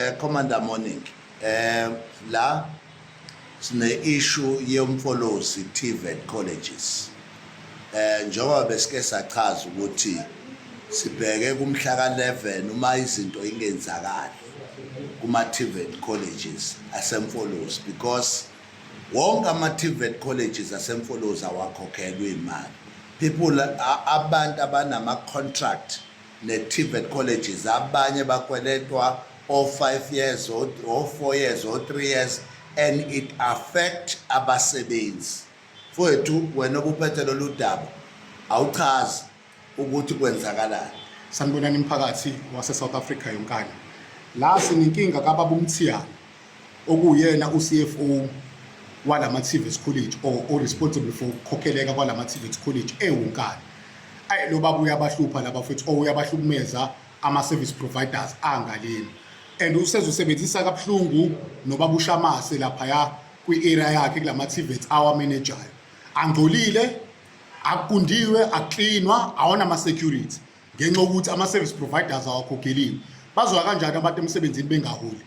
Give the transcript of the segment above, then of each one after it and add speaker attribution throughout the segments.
Speaker 1: Eh, Commander Morning eh la sine issue yomfolozi TVET colleges eh njengoba besike sachaza ukuthi sibheke kumhla ka11 uma izinto ingenzakali kuma TVET colleges asemfolozi because wonke ama TVET colleges asemfolozi awakhokhelwe imali people abantu abanama contract ne-TVET colleges abanye bakweletwa o-5 years o-4 years o-3 years and it affect abasebenzi mfowethu wena obuphethe lolu daba awuchazi ukuthi kwenzakalani sanibonani
Speaker 2: mphakathi wase-south africa yonkana la sinenkinga kababa umthiyana okuwuyena uCFO walama TVETs College or o responsible for ukukhokheleka kwalama TVETs College ewunkani ayi lo baba uyabahlupha laba futhi or uyabahlukumeza ama service providers angaleni and usezosebenzisa kabuhlungu nobaba ushamase lapha ya kwi area yakhe kulama TVETs awa manager angcolile akukundiwe akuklinwa awona ama security ngenxa ukuthi ama service providers awakhokhelile bazoya kanjani abantu emsebenzini bengaholi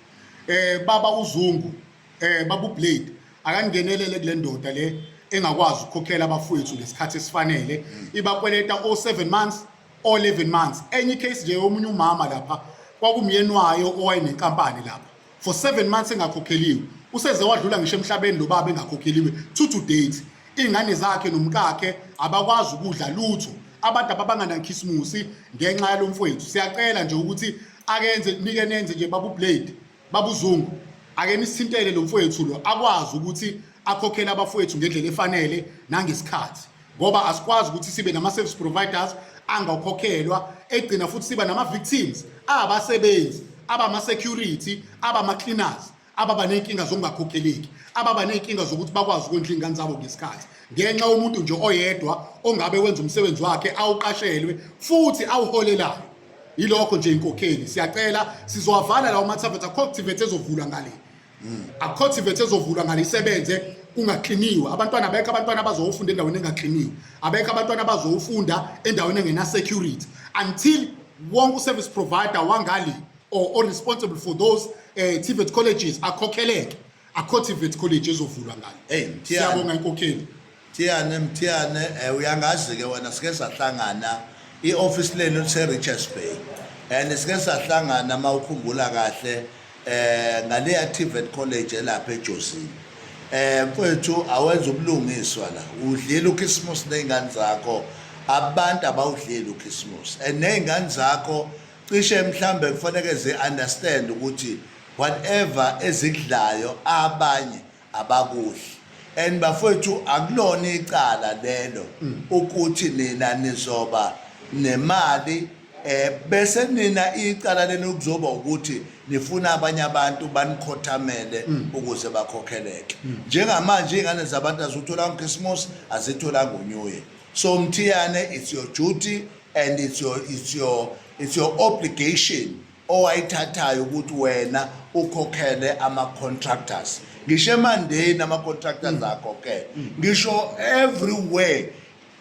Speaker 2: eh baba uzungu eh baba ublade akangenelele kule ndoda le engakwazi ukukhokhela abafowethu ngesikhathi esifanele ibakweleta o7 months o11 months enye case nje omunye umama lapha kwakumyeni wayo owayenenkampani lapha for 7 months engakhokheliwe useze wadlula ngisho emhlabeni lo baba engakhokheliwe to to date ingane zakhe nomkakhe abakwazi ukudla lutho abantu ababanganakhisimusi ngenxa yalomfowethu siyacela nje ukuthi akenze nike nenze nje babu blade babu zungu ake nisithintele lo mfowethu lo akwazi ukuthi akhokhele abafowethu ngendlela efanele nangesikhathi ngoba asikwazi ukuthi sibe nama service providers angakhokhelwa egcina futhi siba nama victims abasebenzi abama security abama cleaners ababa ney'nkinga zokungakhokheleki ababa ney'nkinga zokuthi bakwazi ukondla iy'ngane zabo ngesikhathi ngenxa yomuntu nje oyedwa ongabe wenza umsebenzi wakhe awuqashelwe futhi awuholelayo yilokho nje inkokheli siyacela sizowavala lawo mathavethe akho activate ezovulwa ngale hmm. akho activate ezovulwa ngale isebenze kungakliniwe abantwana abekho abantwana abazowufunda endaweni engakliniwe abekho abantwana abazowufunda endaweni engena security until wonke uservice provider wangali or, or responsible for those uh, TVET colleges akhokheleke akho TVET college ezovulwa ngalo hey siyabonga inkokheli Thiyane Mthiyane
Speaker 1: eh, uyangazi ke wena sike sahlangana i-office lenu lise Richards Bay and sike sahlangana mawukhumbula kahle eh ngaleya TVET college elapha eJosini eh mfethu awenza ubulungiswa la udlela uKhisimusi nezingane zakho abantu abawudleli uKhisimusi and nezingane zakho Cishe mhlambe kufanele zi understand ukuthi whatever ezikudlayo abanye abakudli and bafowethu akulona icala lelo mm. ukuthi nina nizoba nemali eh bese nina icala lenu kuzoba ukuthi nifuna abanye abantu banikhothamele mm. ukuze bakhokheleke mm. njengamanje ingane zabantu azithola uKrismus azithola ngoNew Year so mthiyane it's your duty and it's your, it's your, it's your obligation owayithathayo ukuthi wena ukhokhele ama-contractors ngisho emandeni ama-contractors mm. akho ke mm. ngisho everywhere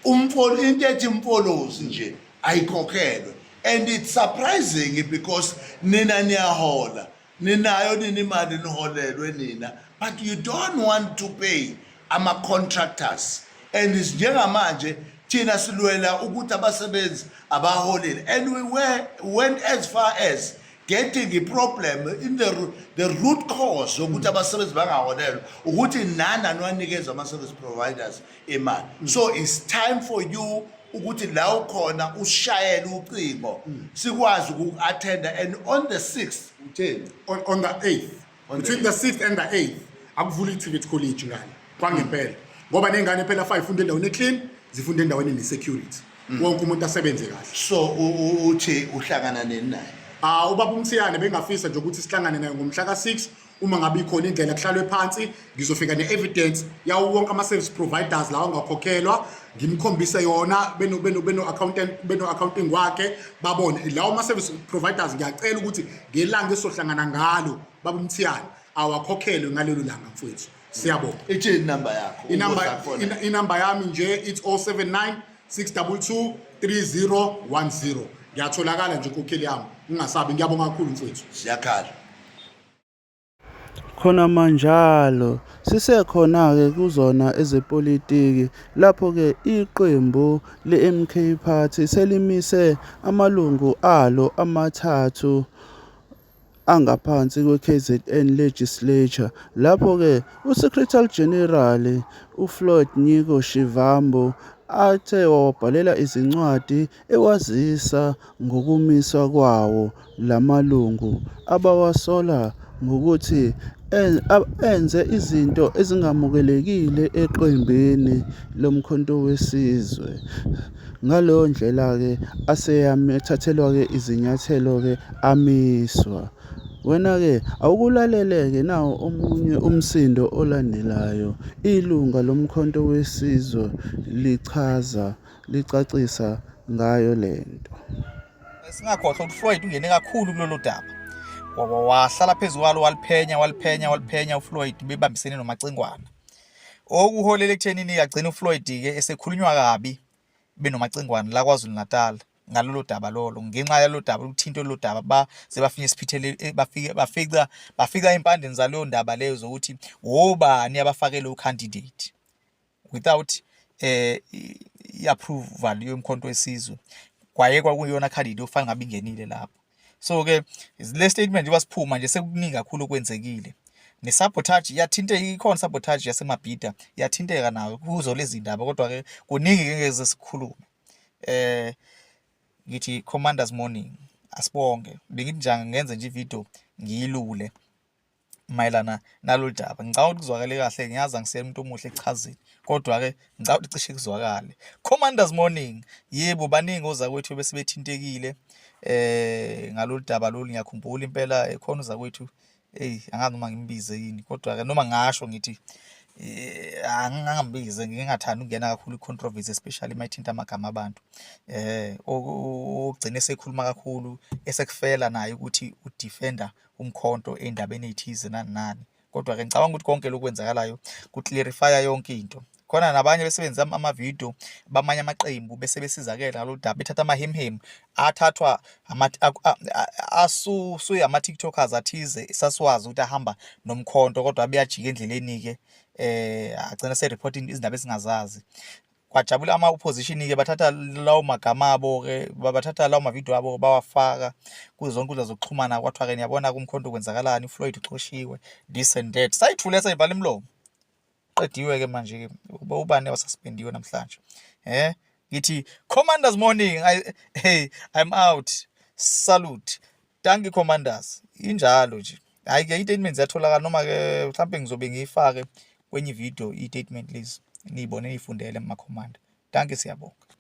Speaker 1: umfolo into ethi mfolozi nje ayikhokhelwe and it's surprising because nina niyahola ninayo nini imali niholelwe nina but you don't want to pay ama-contractors and njengamanje thina silwela ukuthi abasebenzi abaholile and we were, went as far as getting i-problem in the, the root cause yokuthi abasebenzi bangaholelwa ukuthi nani aniwanikeza ama-service providers imali mm. so it's time for you ukuthi la ukhona ushayele ucingo mm. sikwazi uku-attenda and on the 6th utheni on, on
Speaker 2: the 8th on between the 6th and the 8th akuvula i-tivet college ngane kwangempela ngoba ney'ngane phela fa ifunde endaweni eclean zifunde endaweni ne-security mm. wonke umuntu asebenze kahle so
Speaker 1: uthi uhlangana nini naye Ah ubaba uMthiyane
Speaker 2: bengafisa nje ukuthi sihlangane naye ngomhla ka6 uma ngabe ikhona indlela kuhlalwe phansi ngizofika ne-evidence yawo wonke ama-service providers lawa angakhokhelwa ngimkhombise yona beno-accounting wakhe babone lawo ama-service providers ngiyacela ukuthi ngelanga esohlangana ngalo baba umthiyane awakhokhelwe ngalelo langa mfowethu siyabonga ithini inamba
Speaker 1: yakho inamba yami
Speaker 2: nje it's 079 622 3010 ngiyatholakala nje inkokheli yami ungasabi ngiyabonga kakhulu mfowethu siyakhala
Speaker 3: Khonamanjalo, sisekhona-ke kuzona ezepolitiki lapho-ke iqembu leMK Party selimise amalungu alo amathathu angaphansi kweKZN Legislature lapho-ke uSecretary General uFloyd Nyiko Shivambu athe wawabhalela izincwadi ewazisa ngokumiswa kwawo lamalungu abawasola ngokuthi enze izinto ezingamukelekile eqembini loMkhonto weSizwe. Ngaleyo ndlela-ke aseyathathelwa-ke izinyathelo-ke amiswa. Wena-ke awukulalele-ke nawo omunye umsindo olandelayo. Ilunga loMkhonto weSizwe lichaza. licacisa ngayo le nto. Singakhohlwa
Speaker 4: ukuthi Floyd ungene kakhulu kulolu daba. Wahlala phezu kwalo waliphenya waliphenya waliphenya uFloyd bebambisene nomacingwana. Okuholela ekuthenini agcina uFloyd-ke esekhulunywa kabi benomacingwane la KwaZulu-Natal ngalolu daba lolo ngenxa yalo daba lokuthinta lolu daba baze bafike esiphithele eh, bafike bafica bafica impandeni zaleyo ndaba leyo zokuthi wobani abafakele ucandidate without eh i-approval yomkhonto wesizwe kwayekwa kuyona candidate ofana ngabe ingenile lapho so ke le statement njengoba siphuma nje sekuningi kakhulu okwenzekile ne-sabotage iyathinta ikhona sabotage yasemabhida iyathinteka nayo kuzo lezi ndaba kodwa-ke kuningi-ke ngeze sikhulume eh ngithi commanders morning asibonge bengithi njenga ngenze nje ividiyo ngiyilule mayelana nalolu daba ngicabanga ukuthi kuzwakale kahle ngiyazi angisiyena umuntu omuhle ekuchazeni kodwa-ke ngicabanga ukuthi cishe kuzwakale commanders morning yebo baningi ozakwethu bese bethintekile eh ngalolu daba lolu ngiyakhumbula impela ekhona uzakwethu eyi angazi noma ngimbize yini kodwa-ke noma ngasho ngithi Eh, angingambize ngingathandi ukungena kakhulu i-controversy especially uma ithinta amagama abantu eh ogcine sekhuluma kakhulu esekufela naye ukuthi udefender umkhonto endabeni ethize nani nani kodwa ke ngicabanga ukuthi konke lokwenzakalayo kuclarifya yonke into khona nabanye besebenzisa ama-video bamanye amaqembu bese besizakele ngalo daba bethatha amahemhemu athathwa asuye ama-tiktokers athize sasiwazi ukuthi ahamba nomkhonto kodwa beyajika endleleni-ke um agcina se-reporting izindaba esingazazi kwajabula ama opposition ke bathatha lawo magama abo ke bathatha lawo mavideo abo bawafaka kuzo zonke inkundla zokuxhumana kwathiwa ke niyabona kumkhonto kwenzakalani Floyd uxoshiwe this and that sayithule sayivala imlomo qediwe ke manje ke ubani wasuspendiwe namhlanje eh ngithi commanders morning i hey i'm out salute Dankie commanders. Injalo nje. Hayi ke i-statement ziyatholakala noma ke mhlawumbe ngizobe ngiyifake kwenye ivideo i-statement lezi niyibone niyifundele kuma-command. Dankie siyabonga.